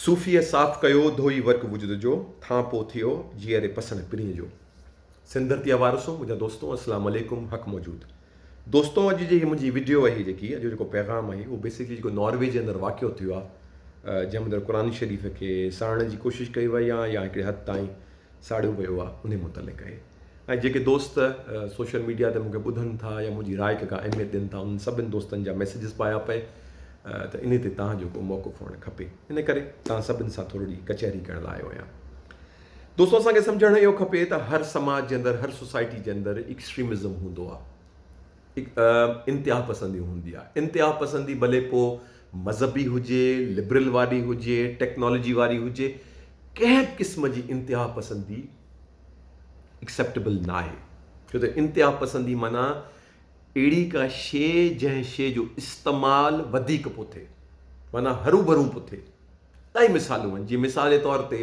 صوفيء صاف ڪيو، ڌوئي ورق وجود جو، ٿان پو ٿيو، جيئري پسڻ پرينء جو. سنڌرتيا وارثو، منهنجا دوستو السلام عليڪم حق موجود دوستو اڄ جي هي منهنجي وڊيو اهي جيڪي اڄ جيڪو پيغام اهي اهو بيسڪلي جيڪو ناروي جي اندر واقعو ٿيو آهي جنهن اندر قرآن شريف کي ساڙڻ جي ڪوشش ڪئي وئي آهي يا هڪڙي حد تائين ساڙيو ويو آ انهي متعلق اهي ۽ جيڪي دوست سوشل ميڊيا تي مونکي ٻڌن ٿا يا منهنجي راء کي ڪا اهميت ڏين ٿا انهن سڀن دوستن جا ميسيجز پايا پئي ته انهي تي توهان جو ڪو موقف هئڻ کپي ان ڪري توهان سڀن سان ٿورڙي جي ڪچهري ڪرڻ لاء آيو آهيان دوستو اسان کي سمجهڻ اهو کپي ته هر سماج جي اندر هر سوسائٽي جي اندر اڪسٽريمزم هوندو آ. انتهاپسندي هوندي آهي، انتهاپسندي ڀلي پوء مذهبي هجي، لبرل واري هجي، ٽيڪنالاجي واري هجي، ڪنهن به قسم جي انتهاپسندي Acceptable ناهي، ڇو ته انتهاپسندي معنيٰ اهڙي ڪا شيء جنهن شيء جو استعمال وڌيڪ پيو ٿئي، معنيٰ هروڀرو پيو ٿئي. الائي مثالون آهن، جيئن مثال جي طور تي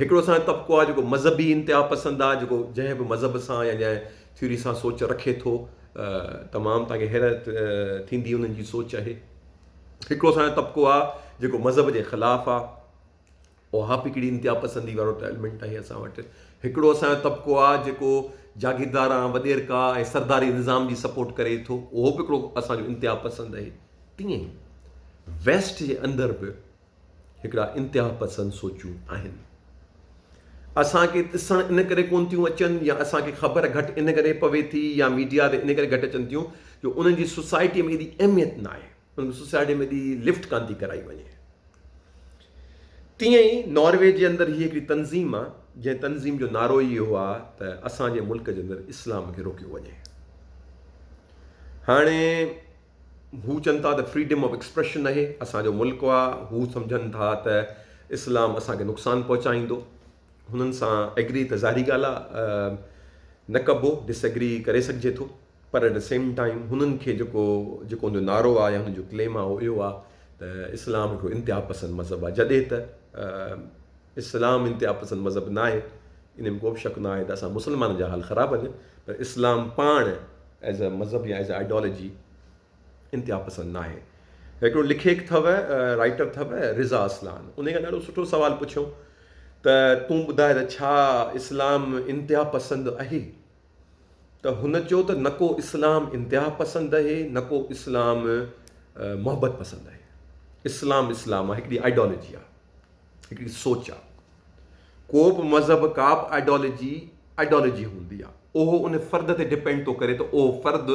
هڪڙو اسان جو طبقو آهي جيڪو مذهبي انتها پسند آهي جيڪو جنهن به مذهب سان يا جنهن ٿيوري سان سوچ رکي ٿو تمام توهان کي حيرت ٿيندي انهن جي سوچ اهي هڪڙو اسان جو طبقو آهي جيڪو مذهب جي خلاف آهي اوهاپ هڪڙي انتها پسندي وارو ٽائلمنٽ آهي اسان وٽ هڪڙو اسان جو طبقو آهي جيڪو جاگيردار آهي وڏيرڪا ۽ سرداري نظام جي سپورٽ ڪري ٿو اهو به هڪڙو اسان جو انتها پسند آهي تيئن ويسٽ جي اندر به هڪڙا انتهاپسند سوچون آهن. اسان کي ڏسڻ ان ڪري ڪونه ٿيون اچن يا اسان کي خبر گهٽ ان ڪري پوي ٿي يا ميڊيا تي ان ڪري گهٽ اچن ٿيون جو انهن جي سوسائٽي ۾ ايڏي اهميت نه آهي انهن کي سوسائٽي ۾ ايڏي لفٽ ڪانه ٿي ڪرائي وڃي تيئن ئي ناروي جي اندر هي هڪڙي تنظيم آ جنهن تنظيم جو نعرو ئي اهو آ ته اسان جي ملڪ جي اندر اسلام کي روڪيو وڃي هاڻي هو چون ٿا ته فريڊم آف ايڪسپريشن اهي اسان جو ملڪ آ هو سمجهن ٿا ته اسلام اسان کي نقصان پهچائيندو هنن سان ايگري ته ظاهري ڳالهه آ نه ڪبو ڊس ايگري ڪري سگهجي ٿو پر ايٽ سيم ٽائيم هنن کي جيڪو جيڪو هن جو نعرو آ يا هن جو ڪليم آ اهو اهو آ ته اسلام هڪڙو انتها پسند مذهب آ جڏهن ته اسلام انتها پسند مذهب ناهي ان ۾ ڪو به شڪ ناهي ته اسان مسلمانن جا حال خراب آهن پر اسلام پاڻ ايز اي مذهب يا ايز اي آئيڊيالوجي انتها پسند ناهي. هڪڙو لکيڪ ٿو رائيٽر ٿو رضا اصلان انهي کان ڏاڍو سٺو سوال پڇيو ته تون ٻڌاء ته ڇا اسلام انتها پسند اهي ته هن چيو ته نه ڪو اسلام انتها پسند اهي نه ڪو اسلام محبت پسند اهي اسلام اسلام آهي هڪڙي آئيڊيالوجي آهي. هڪڙي سوچ آ. ڪو به مذهب ڪا به آئيڊيالجي آئيڊيالجي هوندي آ اهو ان فرد تي ڊپينڊ ٿو ڪري ته اهو فرد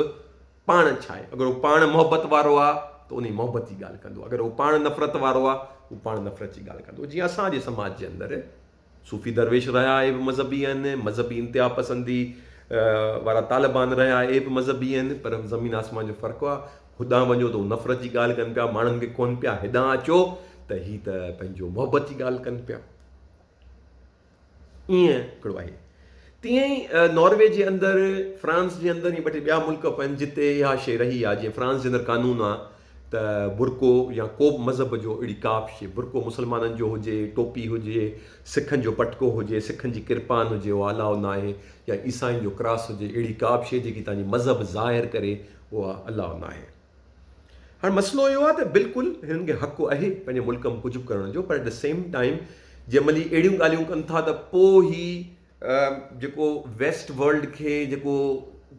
پاڻ ڇا آهي اگر هو پاڻ محبت وارو آ ته انهي محبت جي ڳالهه ڪندو اگر هو پاڻ نفرت وارو آ هو پاڻ نفرت جي ڳالهه ڪندو جيئن اسان جي سماج جي اندر صوفي درويش رهيا اهي به مذهبي آهن مذهبي انتها پسندي وارا طالبان رهيا اهي به مذهبي آهن پر زمين آسمان جو فرق آ هوڏانهن وڃو ته هو نفرت جي ڳالهه ڪن پيا، ماڻهن کي ڪون پيا، هيڏانهن اچو ته هي ته پنهنجو محبت جي ڳالهه ڪن پيا. ائين هڪڙو آهي. تيئن ئي ناروي جي اندر، فرانس جي اندر ائين ٻه ٽي ٻيا ملڪ به آهن جتي اها شيء رهي آهي. جيئن فرانس جي اندر قانون آهي ته برقعو يا ڪو به مذهب جو اهڙي ڪا به شيء، برقعو مسلمانن جو هجي، ٽوپي هجي، سکن جو پٽڪو هجي، سکن جي ڪرپان هجي اها الاء ناهي يا عيسائين جو ڪراس هجي، اهڙي ڪا به شيء جيڪي تنهنجي مذهب ظاهر ڪري، اها الله ناهي. هاڻ مسئلو اهو آهي ته بلڪل هنن کي حق اهي پنهنجي ملڪ م ڪجهه به ڪرڻ جو پر ايٽ دي سيم ٽائيم جنهن مهل هي اهڙيون ڳالهيون ڪن ٿا ته پو هي جيڪو ويسٽ ورلڊ کي جيڪو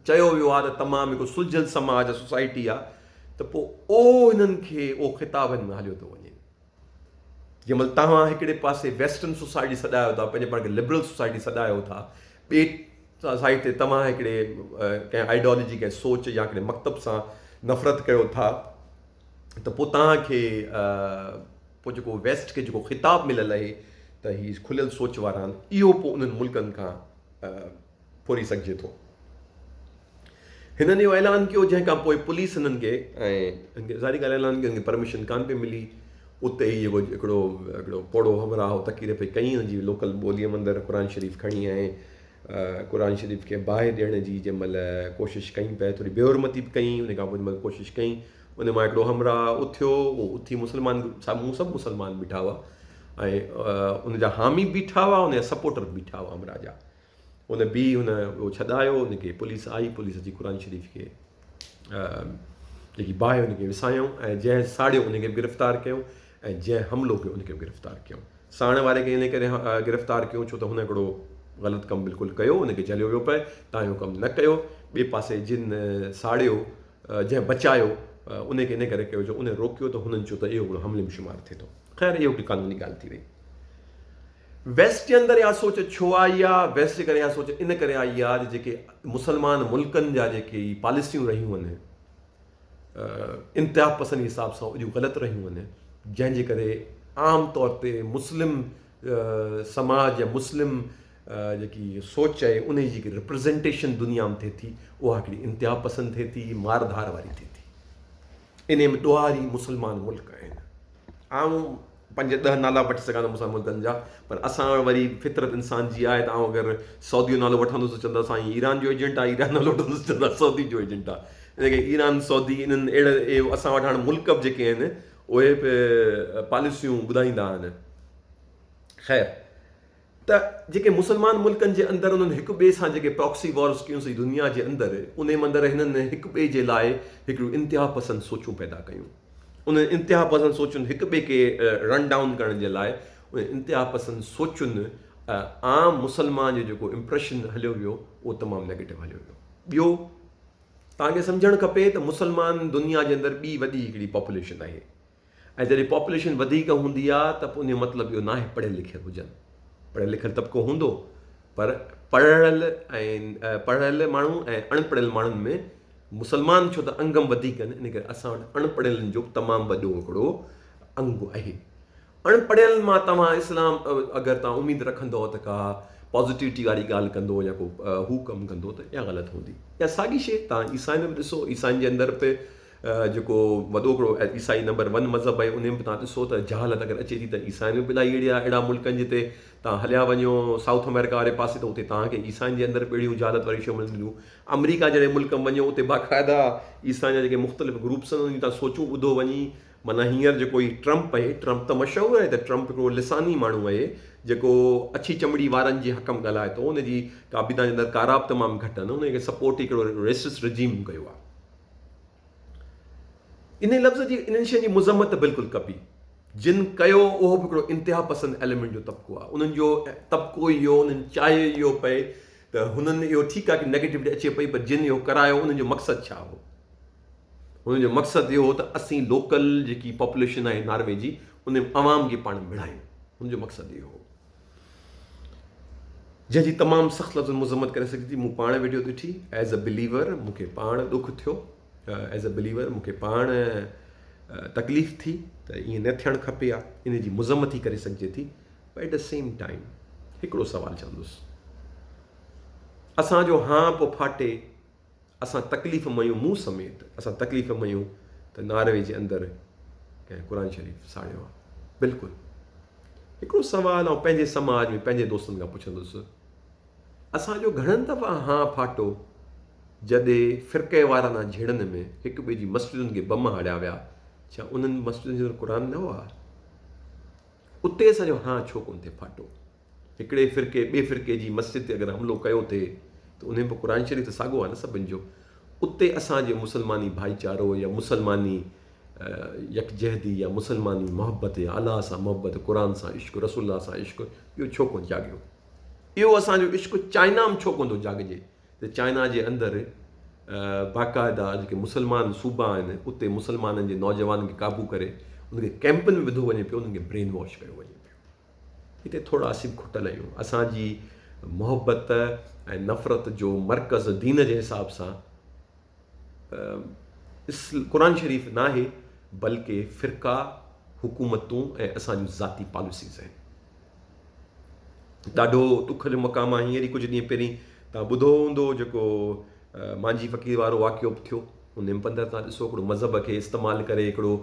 چيو ويو آهي ته تمام هڪ سلجهيل سماج سوسائٽي آهي ته پو اهو هنن کي اهو خطاب هن ۾ هليو ٿو وڃي. جنهن مهل توهان هڪڙي پاسي ويسٽرن سوسائٽي سڏايو ٿا پنهنجي پاڻ کي لبرل سوسائٽي سڏايو ٿا ٻي سائيڊ تي توهان هڪڙي ڪنهن آئيڊيالوجي ڪنهن سوچ يا هڪڙي مڪتب سان نفرت ڪيو ٿا ته پوء توهان کي پوء جيڪو ويسٽ کي جيڪو خطاب مليل آهي ته هي کليل سوچ وارا آهن اهو پوء انهن ملڪن کان ڦوري سگهجي ٿو. هنن اهو اعلان ڪيو جنهن کان پوء پوليس هنن کي ۽ ظاهري ڳالهه اعلان ڪيو هنن کي پرميشن ڪانه پئي ملي اتي ئي جيڪو هڪڙو هڪڙو پوڙهو همراهه تقرير پئي ڪئي هن جي لوڪل ٻوليء مندر قرآن شريف کڻي ۽ قرآن شريف کي باهه ڏيڻ جي جنهن مهل ڪوشش ڪئي پهرين ٿوري بي حرمتي به ڪئي ان کان پوء جنهن مهل ڪوشش ڪئي ان مان هڪڙو همراهه اٿيو اهو اٿي مسلمان سامهون سڀ مسلمان بيٺا هئا ۽ ان جا حامي بيٺا هئا ان جا سپورٽر بيٺا هئا همراهه جا ان بي هن اهو ڇڏايو ان کي پوليس آئي پوليس اچي قرآن شريف کي جيڪي باهه ان کي وسايائون ۽ جنهن ساڙيو ان کي گرفتار ڪيو ۽ جنهن حملو ڪيو ان کي گرفتار ڪيو ساڻ واري کي ان ڪري گرفتار ڪيو ڇو ته هن هڪڙو غلط ڪم بلڪل ڪيو ان کي جهليو ويو پئي تان اهو ڪم نه ڪيو ٻئي پاسي جن ساڙيو جنهن بچايو ان کي ان ڪري ڪيو جو ان روڪيو ته هنن چيو ته اهو هڪڙو حملي ۾ شمار ٿئي ٿو خير اهو هڪ قانوني ڳالهه ٿي وئي ويسٽ جي اندر اها سوچ ڇو آئي آ، ويسٽ جي ڪري اها سوچ ان ڪري آئي آ جو جيڪي مسلمان ملڪن جا جيڪي هي پاليسيون رهيون آهن انتها پسند حساب سان اهڙيون غلط رهيون آهن جنهن جي ڪري عام طور تي مسلم سماج يا مسلم جيڪي سوچ آهي ان جي جيڪي رپرزنٽيشن دنيا ۾ ٿئي ٿي اها هڪڙي انتها پسند ٿئي ٿي مار ڌار واري ٿئي ٿي ان ۾ ڏوهاري مسلمان ملڪ آهن عام پنج ڏهه نالا وٺي سگهان ٿو مون سان ملڪن جا پر اسان وٽ وري فطرت انسان جي آهي ته آئون اگر سعودي جو نالو وٺندس ته چوندا سائين ايران جو ايجنٽ آهي ايران نالو وٺندس چوندا سعودي جو ايجنٽ آهي ان ڪري ايران سعودي انهن اهڙا اهي اسان وٽ هاڻ ملڪ به جيڪي آهن اهي به پاليسيون ٻڌائيندا آهن خير ته جيڪي مسلمان ملڪن جي اندر انهن هڪ ٻئي سان جيڪي پراڪسي وارز ڪيون سي دنيا جي اندر انهي مندر هنن هڪ ٻئي جي لاء هڪڙيون انتها پسند سوچون پيدا ڪيون انهن انتها پسند سوچن هڪ ٻئي کي رن ڊائون ڪرڻ جي لاء انهن انتها پسند سوچن عام مسلمان جو جيڪو امپريشن هليو ويو اهو تمام نيگيٽو هليو ويو ٻيو توهان کي سمجهڻ کپي ته مسلمان دنيا جي اندر ٻي وڏي هڪڙي پاپوليشن آهي ۽ جڏهن پاپوليشن وڌيڪ هوندي آ ته پوء ان جو مطلب اهو ناهي پڙهيل لکيل هجن. پڙهيل لکيل طبقو هوندو پر پڙهڙيل ۽ پڙهڙيل ماڻهو ۽ اڻ پڙهيل ماڻهن ۾ مسلمان ڇو ته انگم وڌيڪ آهن ان ڪري اسان وٽ اڻ پڙهيلن جو تمام وڏو هڪڙو انگ اهي. اڻ پڙهيل مان توهان اسلام اگر توهان اميد رکندؤ ته ڪا پازيٽيوٽي واري ڳالهه ڪندو يا ڪو هو ڪم ڪندو ته اها غلط هوندي. اها ساڳي شي توهان عيسائين ۾ به ڏسو عيسائين جي اندر به جيڪو وڏو ھڪڙو عيسائي نمبر ون مذھب آھي انھي ۾ به توھان ڏسو ته جھالت اگر اچي ٿي ته عيسائين ۾ به الائي اھڙي آھي اھڙا ملڪن جتي توھان ھليا وڃو سائوٿ امريڪا واري پاسي ته اتي توھان کي عيسائين جي اندر به اھڙيون جھالت واريون شيون ملنديون امريڪا جھڙي ملڪ ۾ وڃو اتي باقاعده عيسائين جا جيڪي مختلف گروپس آھن انھي تان سوچون ٻڌو وڃي معنيٰ ھينئر جيڪو ھي ٽرمپ آھي ٽرمپ ته مشھور آھي ته ٽرمپ ھڪڙو لساني ماڻھو آھي جيڪو اڇي چمڙي وارن جي حق ۾ ڳالھائي ٿو انھي جي ڪابينا جي اندر ڪارا به تمام گھٽ آھن انھي کي سپورٽ ھڪڙو ريسس رجيم ڪيو آھي انهيء لفظ جي انهن شين جي مذمت ته بلڪل ڪبي. جن ڪيو اهو به هڪڙو انتها پسند ايليمينٽ جو طبقو آهي. انهن جو طبقو ئي اهو انهن چاهي ئي اهو پئي ته هنن اهو ٺيڪ آهي ڪي نيگيٽوٽي اچي پئي پر جن اهو ڪرايو انهن جو مقصد ڇا هو؟ هنن جو مقصد اهو هو ته اسين لوڪل جيڪي پاپوليشن آهي ناروي جي انهي عوام جي پاڻ مڙهايون. هنن جو مقصد اهو هو. جنهن جي تمام سخت لفظن ۾ مذمت ڪري سگهجي ٿي مون پاڻ ويڊيو تي ٺي ايز اي بليور مون کي پاڻ ڏک ٿيو ايز اي بليور مون کي پاڻ تڪليف ٿي ته ائين نه ٿيڻ کپي ها ان جي مذمت ٿي ڪري سگهجي ٿي but at a same time هڪڙو سوال چوندس اسان جو هان پو ڦاٽي اسان تڪليف ميون مون سميت اسان تڪليف ميون ته ناروي جي اندر ڪنهن قرآن شريف ساڙيو آهي بلڪل هڪڙو سوال آئون پنهنجي سماج ۾ پنهنجي دوستن کان پڇندس اسانجو گهڻن دفعا ها ڦاٽو جڏي فرقي وارانه جهيڙن ۾ هڪ ٻئي جي مسجدن کي بم هاڙيا ويا ڇا انهن مسجدن جي اندر قرآن نه هئا اتي اسانجو ها ڇو ڪون ٿي ڦاٽو هڪڙي فرقي ٻي فرقي جي مسجد تي اگر حملو ڪيو ٿي ته انهي به قرآن شريف ته ساڳو آهي نه سڀن جو اتي اسان جو مسلماني ڀائيچارو يا مسلماني يڪجهتي يا مسلماني محبت يا الله سان محبت قرآن سان عشق رسول الله سان عشق اهو ڇو ڪونه جاڳيو اهو اسان جو عشق چائنا ۾ ڇو ڪونه ٿو جاڳجي ته چائنا جي اندر باقاعده جيڪي مسلمان صوبا آهن اتي مسلمانن جي نوجوانن کي قابو ڪري ان کي ڪيمپن ۾ وڌو وڃي پيو انهن کي برين واش ڪيو وڃي هتي ٿورا سين کٽل آهيون. اسان جي محبت ۽ نفرت جو مرڪز دين جي حساب سان قرآن شريف ناهي بلڪه فرقا، حڪومتون ۽ اسان جون ذاتي پاليسيز آهن. ڏاڍو ڏک جو مقام آهي. هينئر ئي ڪجهه ڏينهن پهرين توهان ٻڌو هوندو جيڪو مانجهي فقير وارو واقعو به ٿيو. ان امپندر تان ڏسو ھڪڙو مذھب کي استعمال ڪري ھڪڙو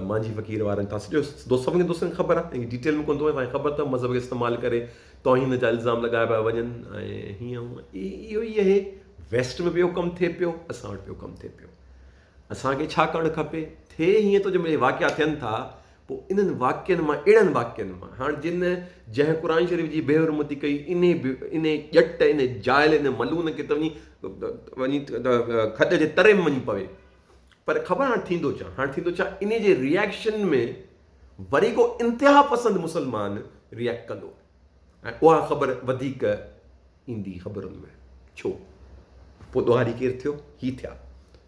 مانجھي فقير وارن تان سڄو دوست سڀني دوستن کي خبر آھي ڊيٽيل ۾ ڪون ٿو وڃان تان کي خبر تھ مذھب کي استعمال ڪري توھين جا الزام لڳايا پيا وڃن ۽ ھيئن ھونئن اھو ئي اھي ويسٽ ۾ بھ اھو ڪم ٿئي پيو اسان وٽ بھ اھو ڪم ٿئي پيو اسان کي ڇا ڪرڻ کپي ٿئي ھيئن ٿو جنھن مھل ھي واقعا ٿين ٿا پوء انهن واقعن مان، اهڙن واقعن مان، هاڻ جن، جنهن قرآن شريف جي بي حرمتي ڪئي، انهي بي، انهي ڄٽ، انهي جاهل، انهي ملعون کي ته وڃي، وڃي کڏ جي تري ۾ وڃي پوي. پر خبر هاڻ ٿيندو ڇا؟ هاڻ ٿيندو ڇا؟ انهي جي ريئڪشن ۾ وري ڪو انتها پسند مسلمان ريئڪٽ ڪندو ۽ اها خبر وڌيڪ، ايندي خبرن ۾. ڇو؟ پوء ڏوهاري ڪير ٿيو؟ هي ٿيا.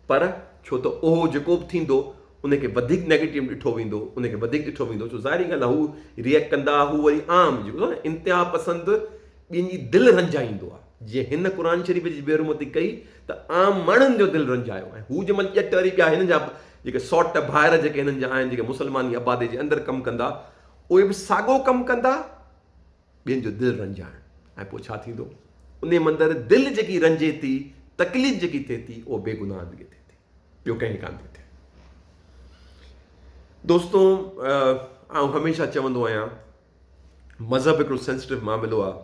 پر ڇو ته اهو جيڪو به ٿيندو ان کي وڌيڪ نيگيٽو ڏٺو ويندو، ان کي وڌيڪ ڏٺو ويندو ڇو ظاهري ڳالهه آهي هو ريئڪٽ ڪندا هو وري عام جيڪو ٿيندو آهي نه انتها پسند ٻين جي دل رنجائيندو آهي جيئن هن قرآن شريف جي بيحرمتي ڪئي ته عام ماڻهن جو دل رنجايو ۽ هو جنهن مهل ڄٽ وري ٻيا هنن جا جيڪي سوٽ ڀائر جيڪي هنن جا آهن جيڪي مسلماني آبادي جي اندر ڪم ڪندا اهي به ساڳو ڪم ڪندا ٻين جو دل رنجائڻ ۽ پوء ڇا ٿيندو؟ انهي مندر دل جيڪي رنجي ٿي، تڪليف جيڪي ٿئي ٿي، اهو بي گناهن کي ٿئي ٿي، ٻيو ڪنهن کي ڪانه ٿي ٿئي. دوستو آئون هميشه چوندو آهيان مذهب هڪڙو سينسٽو معاملو آهي،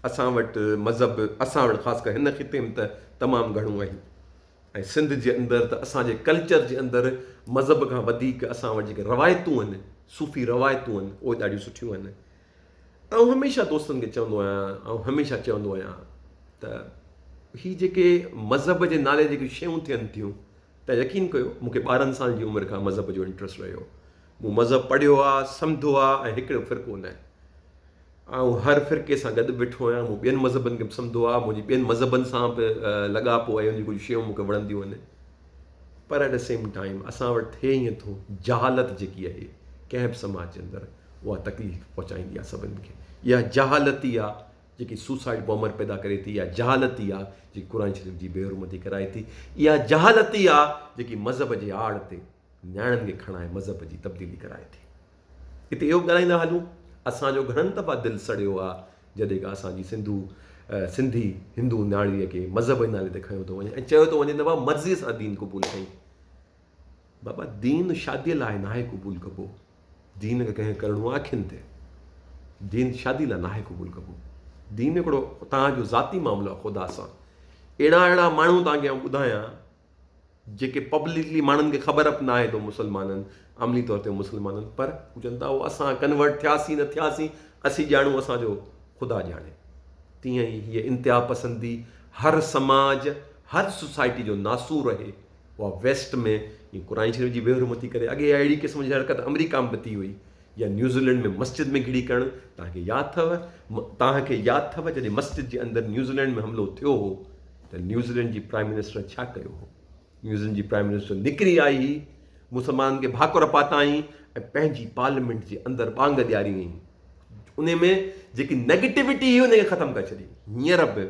اسان وٽ مذهب اسان وٽ خاص ڪري هن خطي ۾ ته تمام گهڻو آهي ۽ سنڌ جي اندر ته اسان جي ڪلچر جي اندر مذهب کان وڌيڪ اسان وٽ جيڪي روايتون آهن صوفي روايتون آهن اهي ڏاڍيون سٺيون آهن آئون هميشه دوستن کي چوندو آهيان آئون هميشه چوندو آهيان ته هي جيڪي مذهب جي نالي جيڪي شيون ٿين ٿيون ته يقين ڪيو مونکي ٻارهن سال جي عمر کان مذهب جو انٽرسٽ رهيو مون مذهب پڙهيو آهي سمڌو آهي ۽ هڪڙو فرقو نه آهي آئون هر فرقي سان گڏ بيٺو آهيان مون ٻين مذهبن کي به سمجھو آهي منهنجي ٻين مذهبن سان به لڳاپو آهي جي ڪجهه شيون مونکي وڻنديون آهن پر ايٽ سيم ٽائيم اسان وٽ ٿئي ائين ٿو جهالت جيڪي آهي ڪنهن به سماج جي اندر اها تڪليف پهچائيندي آهي سڀني کي. اها جهالت ئي آهي جيڪي سوسائيڊ بامبر پيدا ڪري ٿي. اها جهالت ئي آهي جيڪي قرآن شريف جي بي حرمتي ڪرائي ٿي. اها جهالت ئي آهي جيڪي مذهب جي آڙ تي نياڻين کي کڻائي مذهب جي تبديلي ڪرائي ٿي. اتي اهو به ڳالهائيندا هلون اسان جو گهڻن دفعا دل سڙيو آهي جڏهن ڪا اسان جي سنڌو سنڌي هندو نياڻيء کي مذهب جي نالي تي کنيو ٿو وڃي ۽ چيو ٿو وڃي ته وا مرضيء سان دين قبول ڪئين. بابا دين شادي لاء ناهي قبول ڪبو دين کي ڪنهن ڪرڻو آهي اکين تي دين شادي لاء ناهي قبول ڪبو دين هڪڙو توهان جو ذاتي معاملو آهي خدا سان اهڙا اهڙا ماڻهو توهان کي ٻڌايان جيڪي پبلڪلي ماڻهن کي خبر به ناهي تو مسلمانن عملي طور تي مسلمانن پر هو چون ٿا اسان ڪنورٽ ٿياسين نه ٿياسين اسين ڄاڻو اسانجو خدا ڄاڻي تيئن ئي هيء انتها پسندي هر سماج هر سوسائٽي جو ناسور رهي اها ويسٽ ۾ جيئن قرآن شريف جي ويهرو مٿي ڪري اڳي اهڙي قسم جي حرڪت آمريڪا ۾ به ٿي هئي يا نيوزيلينڊ ۾ مسجد ۾ گهڙي ڪرڻ توهان کي ياد اٿو توهان کي ياد اٿو جڏهن مسجد جي اندر نيوزيلينڊ ۾ حملو ٿيو هو ته نيوزيلينڊ جي پرائم منسٽر ڇا ڪيو هو نيوزيلينڊ جي پرائم منسٽر نڪري آئي هئي مسلمانن کي ڀاڪر پاتائين ۽ پنهنجي پارليامينٽ جي اندر ٻانگ ڏياري هئي ان ۾ جيڪي نيگيٽوٽي هئي ان کي ختم ڪري ڇڏي هينئر به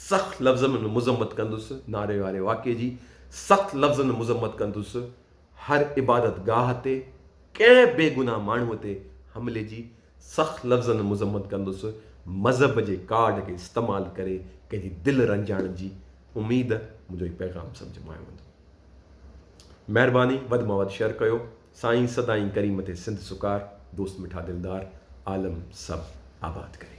سخت لفظن ۾ مذمت ڪندس، ناري واري واقعي جي سخت لفظن ۾ مذمت ڪندس، هر عبادت گاهه تي ڪنهن بي گناهه ماڻهوء تي حملي جي سخت لفظن ۾ مذمت ڪندس، مذهب جي ڪارڊ کي استعمال ڪري ڪنهن جي دل رنجائڻ جي اميد منهنجو هي پيغام سمجهه ۾ آيو هوندو. مهرباني وڌ مان وڌ شيئر ڪيو. سائين سدائين ڪريم ٿي سنڌ سڪار دوست مٺا دلدار عالم سڀ آباد ڪري.